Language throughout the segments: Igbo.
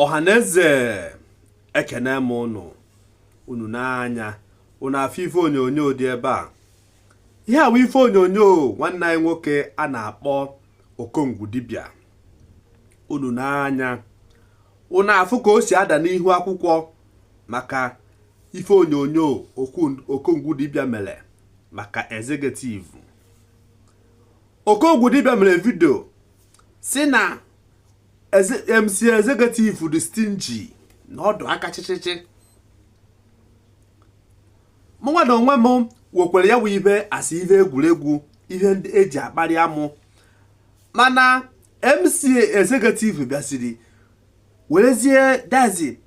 ọhaneze ekene m ụnụ unu n'anya unu afụ ife onyonyo dị ebe a ihe a wụ ife onyonyo nwanne anyị nwoke a na-akpọ okongwu dibịa unu n'anya unu afụ ka o si ada n'ihu akwụkwọ maka ife onyonyo okongwu dibịa mere maka Executive Okongwu dibịa mere video sị na MC Executive dị stingy na ọ dị aka chịchịchị mụnwa na onwe m wekwere ya bụ ife as ihe egwuregwu ihe ndị eji akparị amụ mana MC Executive bịaziri werezie that is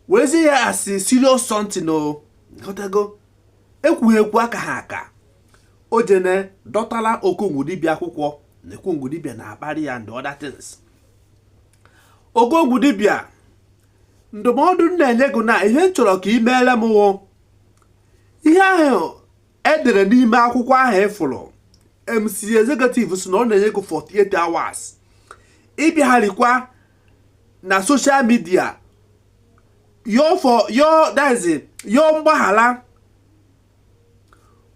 werezie ya as serious something o ekwughị ekwu akaha aka o jene dọtala okongwu dibịa akwụkwọ na okongwu dibịa na-akparị ya and other things okongwu dibịa ndụmọdụ m na-enye gị na ihe m chọrọ ka ị meere m wụ ihe ahụ edere n'ime akwụkwọ ahụ ị fụrụ MC executive sị na ọ na-enye gị 48 hours ị bịagharịkwa na social media yọọ for yọọ that is yọọ mgbaghara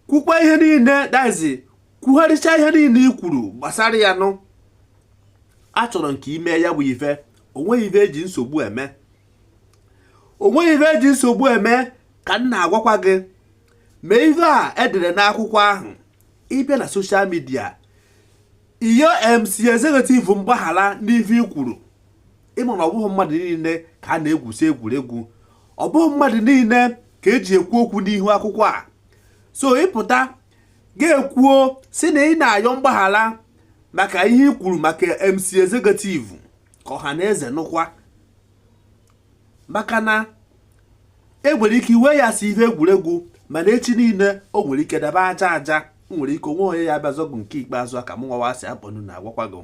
kwukwa ihe niile that is kwugharịcha ihe niile i kwuru gbasara ya nụ achọrọ m ka i mee ya bụ ife o nweghị ife eji nsogbu eme o nweghị ife eji nsogbu eme ka m na-agwakwa gị mee ife a edere n'akwụkwọ ahụ ị bịa na social media ị yọọ MC Executive mgbaghara n'ife i kwuru ị ma na ọ bụghị mmadụ niile ka a na-egwusi egwuregwu ọ bụghị mmadụ niile ka eji ekwu okwu n'ihu akwụkwọ a so ị pụta gị ekwuo sị na ị na-ayọ mgbaghara maka ihe i kwuru maka MC Executive ka ọha na eze nụkwa maka na e nwere ike iwe ya as ihe egwuregwu mana echi niile o nwere ike daba aja aja nwere ike o nweghị onye ya-abịa azọ gị nke ikpeazụ a ka mụnwa wa si akpọnu na-agwakwa gị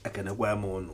ekenekwa m ụnụ